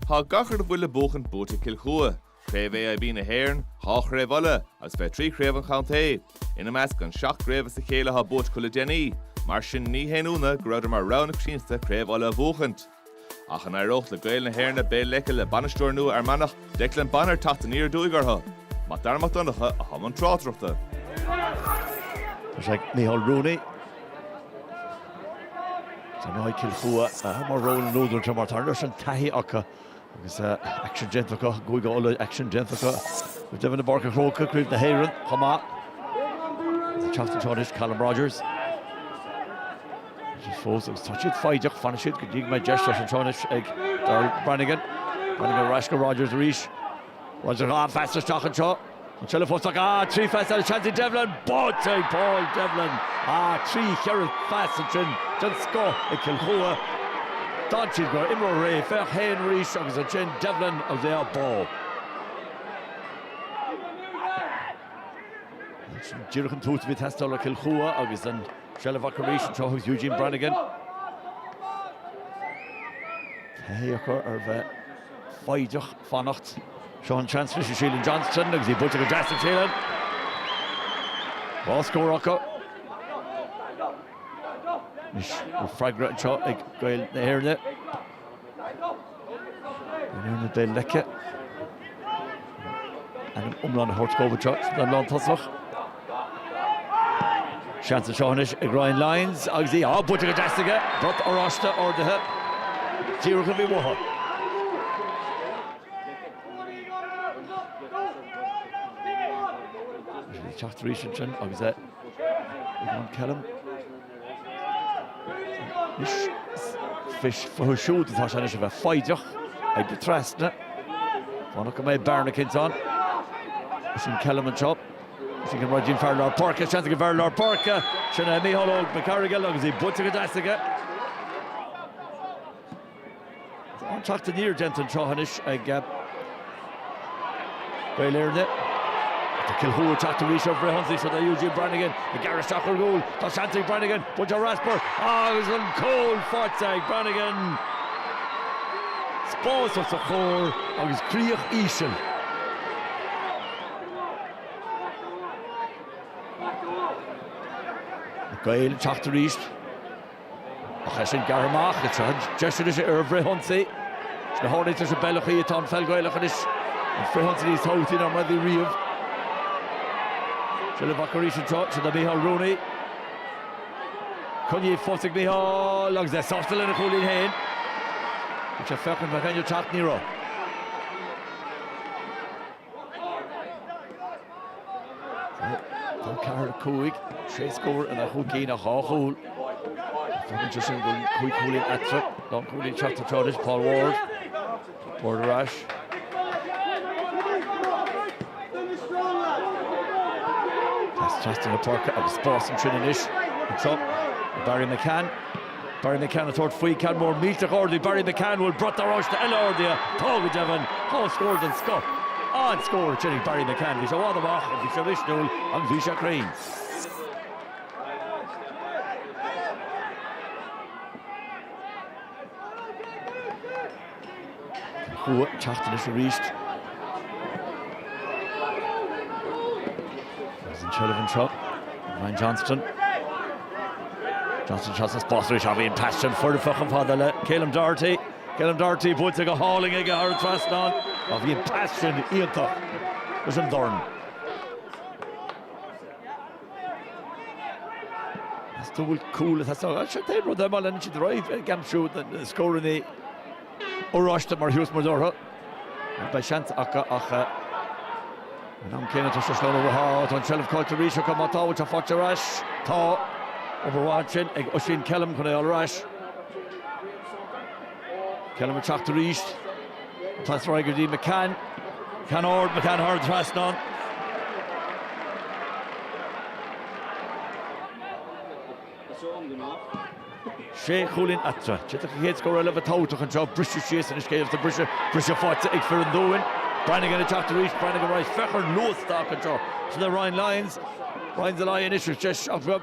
Tá gach a bhfuil le buachaint buaite ag Cill Chua, Craobh AIB na hÉireann, dhá Chraobh Uladh agus fiche trí Craobh an Chontae. Ina measc an seacht gcraobh as a chéile atá buaite acu le déanaí. Mar sin ní haon ionadh go rabhdar mar rogha na coitiantachta Craobh Uladh a bhuachaint. Ach an éireoidh le Gaeil na hÉirne Béal Leice le bainisteoir nua Fhear Manach? Declan Bonner teacht aniar aduaidh orthu. Mac Dara Mac Donncha i mbun tráchtaireachta. Seo é Micheál Rooney ansin. Tá Cill Chua mar rogha na n-údar mar tá an-taithí acu agus gaisce déanta acu i gCúige Uladh, gaisce déanta acu go deimhin i bPáirc an Chrócaigh, Craobh na hÉireann chomh maith. Teacht anseo anois Callum Rogers. fós agus tá siad foighdeach, fanfaidh siad go dtí go mbeidh deis. Deis anseo anois ag Darryl Brannigan. Brannigan ar ais go Rogers arís. Rogers dhá phas isteach anseo. An tseilbh fós acu dhá trí phas agus seans ag Devlin, buailte ag Paul Devlin. Dhá trí cheithre phas ansin den scoth ag Cill Chua. D'fhan siad go raibh imreoir réidh, féach féin arís agus ansin Devlin agus é á bhualadh. Sin díreach an tús a bhí teastáil ó Chill Chua agus an Seilbh acu arís anseo Eugene Brannigan taithí acu ar bheith foighdeach, fanacht. Seo an seans anois ag Shealan Johnston agus í buailte go deas ag Shealan. Dhá scór acu. Anois an freagra anseo ag Gaeil na hÉirne. Gaeil na hÉirne Béal Leice an t-ainm iomlán a thabhairt dóibh anseo sa líne lántosach. Seans anseo anois ag Ryan Lyons agus í buailte go deas aige. Brat oráiste ardaithe díreach a bhí uathu. Teacht arís ansin agus é ag Kelm. Anois, fúthu siúd atá sé anois a bheith foighdeach, ag dul trasna. Fanacht go mbeidh bearna cinnte ann. Sin é Kelm anseo. Seo Ryan fear lár páirce, seans ag an bhfear lár páirce. Sin é Mícheál Óg Mac Fhearghail agus í buailte go deas aige. Tá an teacht aniar déanta anseo anois ag Gaeil na hÉirne. Tá Cill Chua ag teacht arís ar bhreith iontach do Eugene Brannigan ag gearradh isteach ar gcúl. Tá seans ag Brannigan buailte rasper agus an cúl faighte ag Brannigan. Spás os a chomhair agus críoch íseal. Gaeil ag teacht arís. Ach é sin gearrtha amach, is é deis anois ar an bhfrithionsaí. Is go háirid sa mbealach atá an pheil Ghaelach anois, an frithionsaí níos tábhachtaí ná mar a bhí riamh. Seilbh acu arís anseo, sin do Mhícheál Rooney. Coinníodh fós ag Mícheál agus é sásta lena chúilín féin. Bhí sé féachaint an mbeadh éinne ag teacht, ní raibh. Tá ceathair a cúig, sé scór ina chúl cinn ach dhá chúl. Fágann sé sin cúig chúilín eatarthu. Tá cúlaí ag teacht anseo anois, Paul Ward. Ward ar ais. Trasna na páirce agus spás ansin anois. Barry McCann. Barry McCann ag tabhairt faoi, ceann mór millteach ard ag Barry McCann, bhfuil brat oráiste eile ardaithe, tá go deimhin, á scór den scoth, an-scór cinnte ag Barry McCann, bhí sé i bhfad amach agus bhí sé misniúil agus bhí sé cruinn. Chua ag teacht anois arís. Agus an tseilbh anseo, Ryan Johnston. Johnston seo sa spás arís, á bhí an pass sin foirfe chomh fada le Ceilum Doherty. Ceilum Doherty buailte go hálainn aige thar an trasnán. Á bhí an pass sin iontach leis an dorn. Stúil cúil atá sa chairt. Aon rud eile má leanann siad ar aghaidh ag aimsiú na scóranna oráiste mar thionscnamh orthu, nach mbeidh seans acu ach an am céanna toisc gur slán ó Mhaigh Eo atá an tseilbh caillte arís acu. Má tá, bhfuil sé faighte ar ais? Tá. Obair mhaith ansin ag Oisín Kelm chun é a fháil ar ais. Kelm ag teacht arís. Pas ar aghaidh go dtí McCann. McCann ard, McCann thar an trasnán. Sé chúilín eatarthu. Titfidh an chéad scór eile go tábhachtach anseo. Briseadh síos ina scéal atá briseadh. Briseadh faighte ag fir an Dúin. Branagan ag teacht arís. Branagan ar aghaidh féach ar an luas atá acu anseo seo é Ryan Lyons. Ryan Lyons Uisce 7 bheag.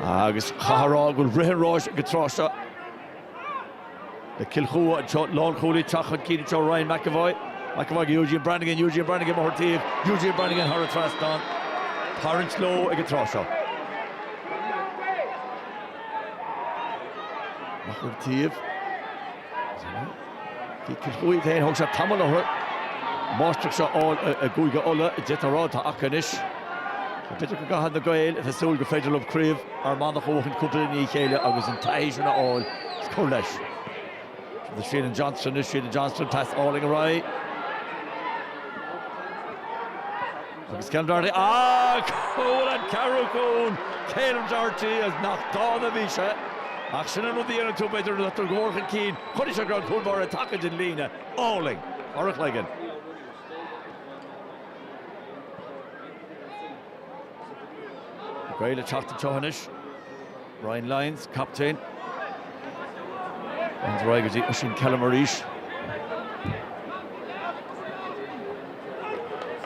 Agus caithfear a rá go bhfuil rith an ráis ag an tráth seo le Cill Chua anseo, lánchúlaí ag teacht chun cinn anseo, Ryan McEvoy, McEvoy go Eugene Branagan, Eugene Branagan ag tabhairt faoi, Eugene Branagan thar an trasnán, tarraingt leo ag an tráth seo. Máthair taobh. Chua féin, thóg sé tamall orthu máistreacht a fháil i gCúige Uladh. D'fhéadfá a rá atá acu anois. B'fhéidir go gcaithfidh na Gaeil a bheith ag súil gur féidir leo craobh Fhear Manach a bhuachan cúpla i ndiaidh a chéile agus an taithí sin a fháil is cur leis. Agus Shealan Johnston anois, Shealan Johnston pas álainn ar aghaidh. Agus Ceilum Doherty a bhuail an ceathrú cúl, Ceilum Doherty is nach dána a bhí sé. Ach sin an rud a dhéanann tú, b'fhéidir, nuair atáthar go mór chun cinn. Chonaic sé go raibh an cúl báire tagtha den líne. Álainn. Thar a chloigeann. Gaeil ag teacht anseo anois. Ryan Lyons, captaen. Lyons ar aghaidh go dtí Oisín Kelm arís.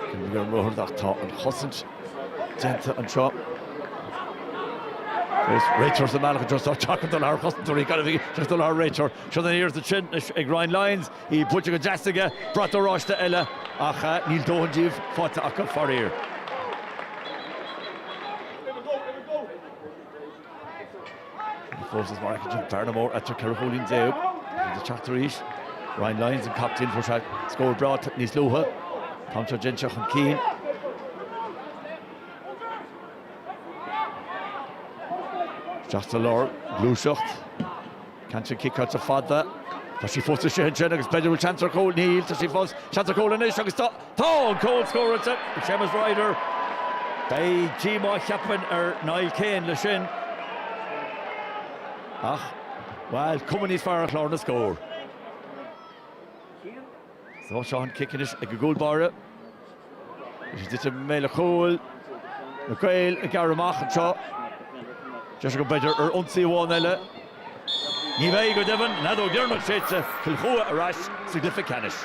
Cúnamh ar an mbóthar ach tá an chosaint déanta anseo. Is réiteoir sa mbealach anseo, tá sé deacair dul thar chosantóirí, gan a bheith ag dul thar réiteoir. Seo an iarracht ansin ag Ryan Lyons, í buailte go deas aige, brat oráiste eile ach níl dóthain díobh faighte acu faraor. An fós is maith ag bearna mhór as 14 chúilín. Bhí ag teacht arís. Ryan Lyons, an captaen, fuair sé scór breá níos luaithe. Tá anseo déanta seo chun cinn. Isteach sa lár, gluaiseacht. Ceann atá ciceáilte fada. Tá sí fós istigh ansin agus b'fhéidir go bhfuil seans ar chúl. Níl. Tá sí fós. Seans ar chúl anois agus tá. Tá! Cúl scóráilte ag Séamus Ryder. Beidh díomá cheapfainn ar Niall Kane leis sin ach, bhuel, cuma níos fearr ar chlár na scór. Seo an cic anois ag an gcúl báire. Í ag titim i mbéal an chúil, na Gaeil ag gearradh amach anseo. Deis acu b'fhéidir ar ionsaí amháin eile. Ní bheidh, go deimhin, an fheadóg dheireanach séidte, Cill Chua ar ais sa gcluiche ceannais.